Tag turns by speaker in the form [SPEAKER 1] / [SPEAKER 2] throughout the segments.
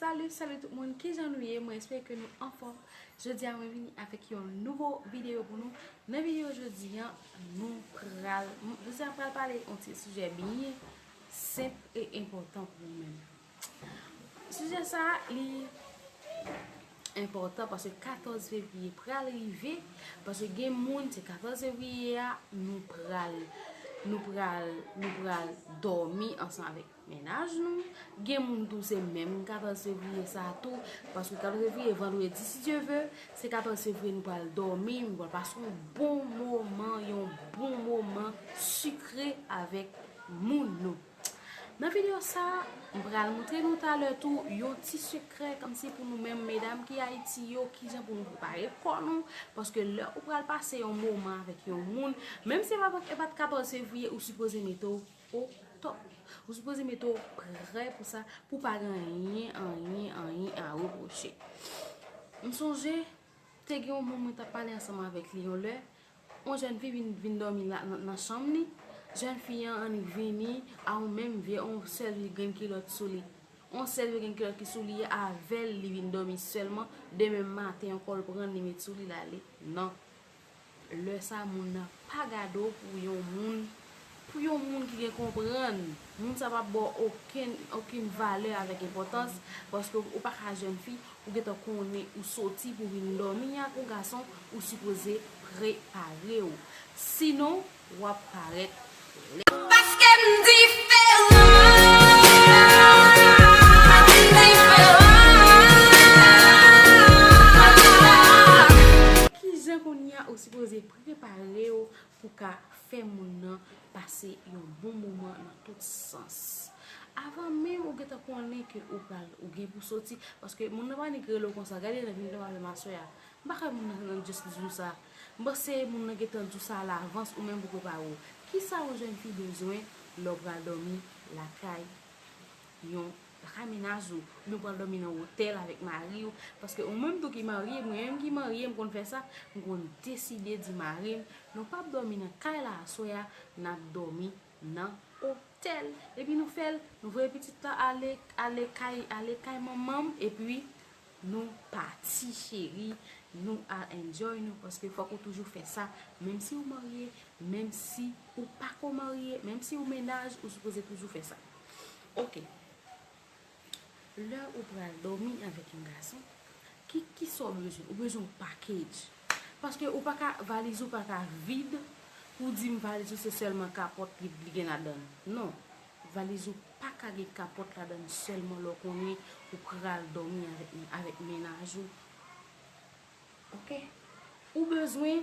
[SPEAKER 1] Salut salut tout moun kijan nou ye mwen espere ke nou anfòm jodi a mwen vini avèk yon nouvo video pou nou nan video jodi an nou pral jodi a pral pale yon ti sujè byen senp e enpòtan pou nou men sujè sa li enpòtan paske 14 fevriye pral rive paske gen moun se 14 fevriye a nou pral nou pral nou pral dòmi ansan avèk Mennaj nou, gen moun tou se menm 14 fevriye sa tou, paske 14 fevriye vandredi si Dye ve, se 14 fevriye nou pral dòmi, nou pral pase yon bon moman, yon bon moman sikre avèk moun nou. Nan videyo sa, m pral moutre nou talè tou yon ti sekrè kòmsi pou nou menm medam ki Ayiti yo, kijan pou nou prepare kò nou, paske lè ou pral pase yon moman avèk yon moun, menm si e pa 14 fevriye ou sipoze mete w Au top! Ou sipoze mete w prè pou sa, pou pa gen anyen, anyen, anyen a repwoche. M sonje, te gen yon moun mwen tap pale ansanm avèk li yon lè, yon jèn fi vin vin dòmi la nan chanm li, jèn fi an annik vini a yon menm vye, yon sèl vye grenn kilòt sou li. Yon sèl vye grenn kilòt ki sou li a, avèl li vin dòmi sèlman, demen maten ankò l pran l li met sou li l ale nan Lè sa moun nan pa gade w pou yon moun, pou yon moun ki gen konprann. Moun sa pa ba w okenn, okenn valè avèk enpòtans, paske ou pa ka jèn fi, ou gen tan konnen ou soti pou vin dòmi ak yon gason, ou sipoze prepare w. Sinon. Wap paret klè. Paske m diferan. Ki jan kounya ou sipoze prepare w pou ka fè moun nan pase yon bon moman nan tout sans. Avan menm ou gentan konnen ke ou pral ou gen pou soti paske moun nan pa nik rele w konsa gade nan vin nan pale m aswè a M pa kwè moun nan rann justice nou sa. M panse moun nan gentan di w sa alavans ou menm pou prepare w. Kisa yon jèn fi bezwen lè w pral dòmi lakay yon lakay menaj ou oubyen w pral dòmi nan otèl avèk mari w paske ou menm tou ki marye mwen menm ki marye m konn fè sa m konn deside di mari m nou pap dòmi nan kay la aswè a n ap dòmi nan otèl epi nou fè l nou voye pitit la ale ale kay ale kay manman m epi Nou pati cheri Nou al enjoy nou paske fok ou toujou fè sa menm si ou marye menm si ou pako marye menm si ou mennaj ou sipoze toujou fè sa ok lè ou pral domi avèk yon gason ki kisa ou bezwen ou bezwen yon package paske ou paka valiz ou paka vid pou dim valiz ou se sèlman kapòt li gen ladann non valiz ou Pa ka gen kapòt ladann sèlman lè w konnen ou pral dòmi avèk mennaj ou ok. Ou bezwen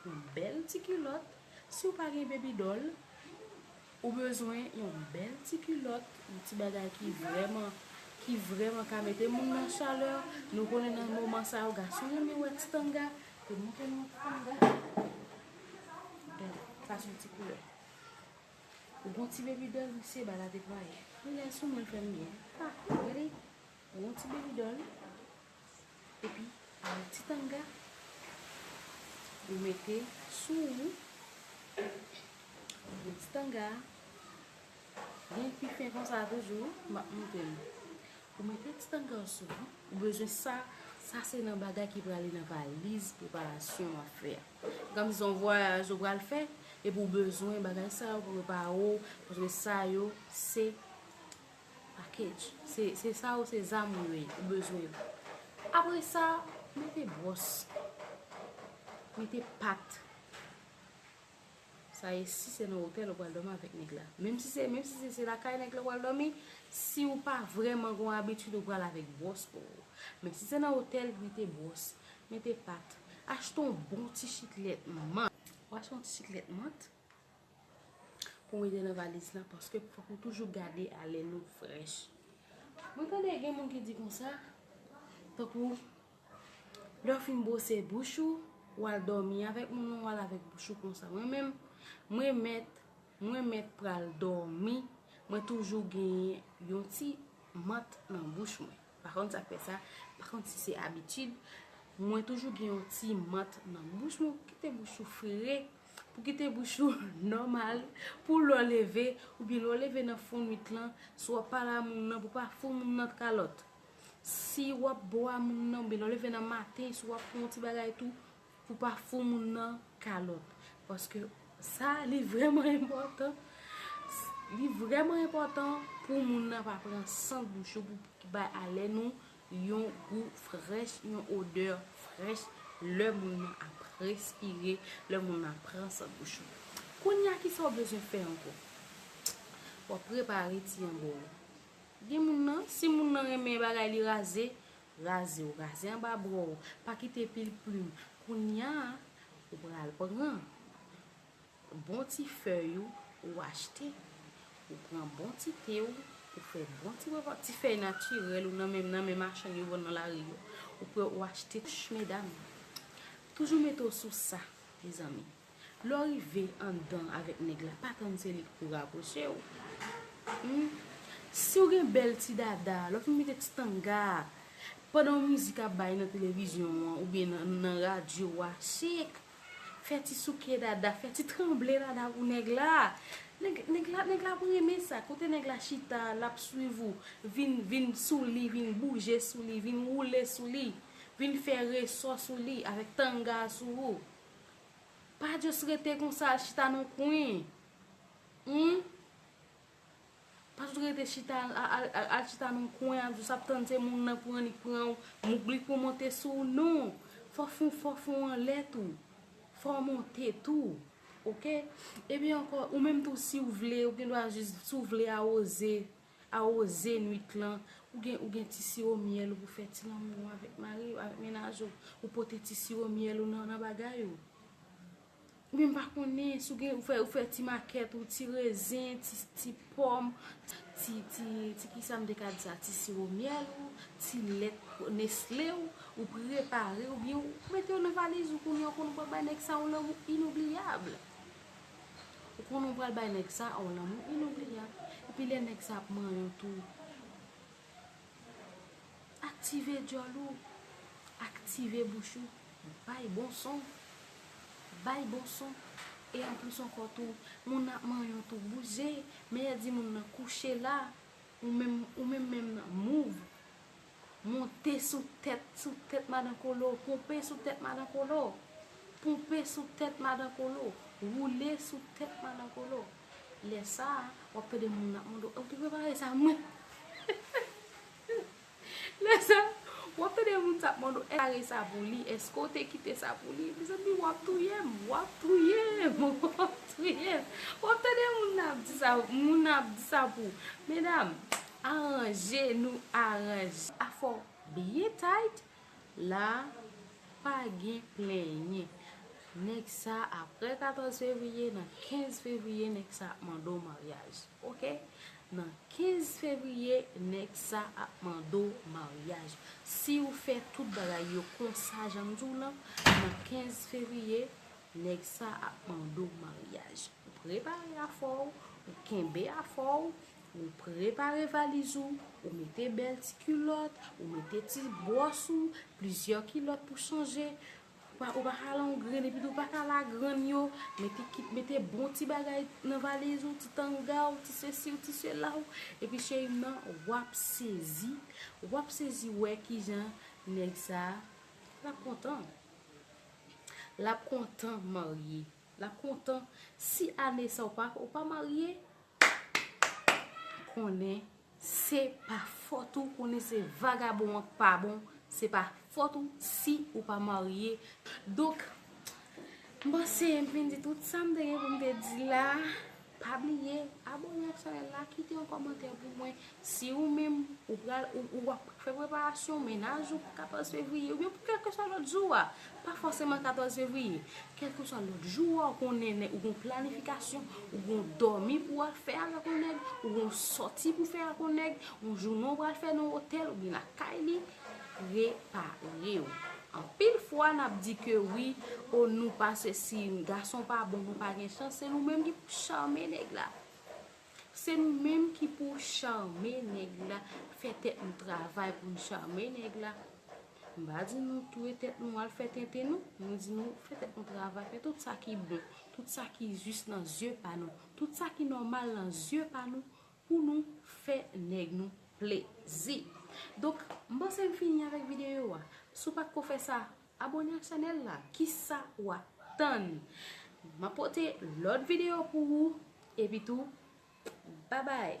[SPEAKER 1] yon bèl ti kilòt si w pa gen baby doll ou bezwen yon bèl ti kilòt yon ti bagay ki vrèman ki vrèman ka mete moun nan chalè nou konnen nan moman sa yo gason renmen wè ti tanga yo montre nou yon ti tanga gade sa son ti koulè. Ou gon ti baby doll m se bal avek wire. Li la sou mwen l fè m byen. Ha! Gade! Ou gon ti baby doll epi ou gon ti tanga ou mete sou ou. Ou gen ti tanga a. Byen pi fen konsa toujou. M ap montre nou. Ou mete ti tanga ou sou ou. Ou bezwen sa. Sa se nan bagay ki prale nan valiz preparasyon w ap fè a. Gam son vwayaj ou pral fè epi ou bezwen bagay sa yo pou prepare w paske sa yo se package se sa yo se zam ou ye ou bezwen yo apre sa mete bwòs mete pat Sa e si se nan otèl ou pral dòmi avèk nèg la. Menm si se menm si se lakay nèg la ou pral dòmi, si ou pa vrèman gon abitid ou pral avèk bwòs po ou. Men si se nan otèl, mete bwòs, mete pat, achte yon bon ti chiklèt man. Ou achte yon ti chiklèt mant pou mete nan valiz la paske fòk ou toujou gade alèn ou frèch. Mwen tande gen moun ki di konsa tankou. Lè w fin bwose bouch ou, w al dòmi avèk moun nan, w al avèk bouch ou konsa. Mwen menm, mwen mèt, mwen mèt pral dòmi, mwen toujou genyen yon ti mant nan bouch mwen. Pa konn sa k fè sa, pa konn si se abitid, mwen toujou gen yon ti mant nan bouch mwen pou kite bouch ou fre, pou kite bouch ou nòmal, pou lè w leve, oubyen lè w leve nan fonnwit lan, si w ap pale a moun nan pou w pa fout moun nan kalòt. Si wap bwa moun nan oubyen lè w leve nan maten si wap fè yon ti bagay tou pou w pa fou moun nan kalòt paske sa li vrèman enpòtan li vrèman enpòtan pou moun nan pa pran sant bouch ou pou ki bay alè nou yon gou frèch yon odè frèch lè moun nan ap respire lè moun nan pran sant bouch ou kounya kisa w bezwen fè ankò wap prepare ti yanbò w Gen moun nan, si moun nan renmen bagay li raze, raze w, raze anba bra w, pa kite pil plim. Kounya ou pral pran bon ti fèy ou, ou achte, ou pran bon ti te w, ou fè bon ti bòbòt, ti fèy natirèl ou nan men machann yo vann nan lari yo. Ou pran ou achte, medam, toujou mete w sou sa, mezanmi. Lè w rive anndan avèk nèg la, pa tann se li k pou rapwoche w. Humm. Si w gen bèl ti dada, lè w fin mete ti tanga a, pandan mizik ap bay nan televizyon an oubyen nan radyo a, chik! Fè ti souke dada, fè ti tranble dada pou nèg la. Nèg, nèg la, nèg la ap renmen sa. Kote nèg la chita a, l ap swiv ou. Vin, vin sou li, vin bouje sou li, vin woule sou li. Vin fè resò sou li avèk tanga a sou ou. Pa just rete konsa al chita nan kwen. Humm. Pa just rete chita al chita nan kwen ap just ap tann se moun nan pran li pran ou. Mouk li pou monte sou ou. Non. Fò fon fò fon an lè tou. Fò monte tou. Ok. Epi ankò ou menm tou si ou vle ou gen dwa just si ou vle awoze. Awoze nwit lan, ou gen ou gen ti siwo myèl ou pou fè ti lanmou an avèk mari ou, avèk mennaj ou, ou pote ti siwo myèl ou nan nan bagay ou. Ou byen m pa konnen, si w gen ou fè ou fè ti makèt ou, ti rezen, ti ti pòm, ti ti ti ki sa m te ka di sa, ti siwo myèl ou, ti lèt nesle ou, ou prepare ou byen ou mete yo nan valiz ou kounye a ou konn pral bay nèg sa yon lanmou inoubliyab. Ou konnen ou pral bay nèg sa a yon lanmou inoubliyab. Epi lè nèg sa a ap manyen w tou, aktive dyòl ou, aktive bouch ou, bay bon son, bay bon son. E anplis ankò tou, moun nan ap manyen w tou, bouje. Mèyè di moun nan, kouche la, ou menm menm nan, move. Monte sou tèt, sou tèt madan kolo, ponpe sou tèt madan kolo, ponpe sou tèt madan kolo, woule sou tèt madan kolo. Lè sa a, w ap tande moun ap mande w, ou te prepare sa mwen? Lè sa a, w ap tande moun sa ap mande w, èske ou te prepare sa pou li? Èske ou te kite sa pou li? Mezanmi, w ap touye m, w ap touye m, w ap touye m. W ap tande moun nan ap di sa pou, medam. Aranje nou aranje. A fò byen tight la pa gen plenyen. Nèg sa aprè 14 fevriye nan 15 fevriye nèg sa ap mande w maryaj ok nan 15 fevriye nèg sa ap mande w maryaj si w fè tout bagay yo konsa jan m di w lan nan 15 fevriye nèg sa ap mande w maryaj ou prepare afè w ou kenbe afè w Ou prepare valiz ou, ou mete bèl ti kilòt, ou mete ti bwòs ou, plizyè kilòt pou chanje, ou pa ka langrenn epi tou ou pa ka lagrenn yo, mete kit, mete bon ti bagay nan valiz ou, ti tanga ou, ti sesi ou, ti sela ou, epi cheri m nan w ap sezi, w ap sezi wè ki jan nèg sa, l ap kontan. L ap kontan marye. L ap kontan. Si ane sa ou pa, ou pa marye, konnen se pa fòt ou konnen se vagabon an k pa bon se pa fòt ou si ou pa marye donk m panse m fin di tout sa m te gen pou m te di la pa bliye abòne ak chanèl la kite yon kòmantè pou mwen Si ou menm, ou pral, ou w ap fè preparasyon mennaj ou pou 14 fevriye, oubyen pou kèlkeswa lòt jou a, pa fòseman 14 fevriye, kèlkeswa lòt jou a ou konnen nèg, ou gen yon planifikasyon, ou gen yon dòmi pou w al fè avèk yon nèg, ou gen yon sòti pou w fè ak yon nèg, yon jounen ou pral fè nan yon otèl oubyen lakay li, prepare w. Anpil fwa n ap di ke wi, o nou pa sesi, gason pa bon, nou pa gen chans, se nou menm ki pou chame nèg la. Se nou menm ki pou charme nèg la, fè tèt nou travay pou nou charme nèg la. M pa di nou touye tèt nou al fè tenten nou, mwen di nou fè tèt nou travay, fè tout sa ki bon, tout sa ki jis nan zye pa nou, tout sa ki nòmal nan zye pa nou pou nou fè nèg nou plezi. Donk, m panse m fini avèk videyo a. Si w pa t ko fè sa, Abone ak chanel la kisa wap tann map pote lot video pou ou epitou babay.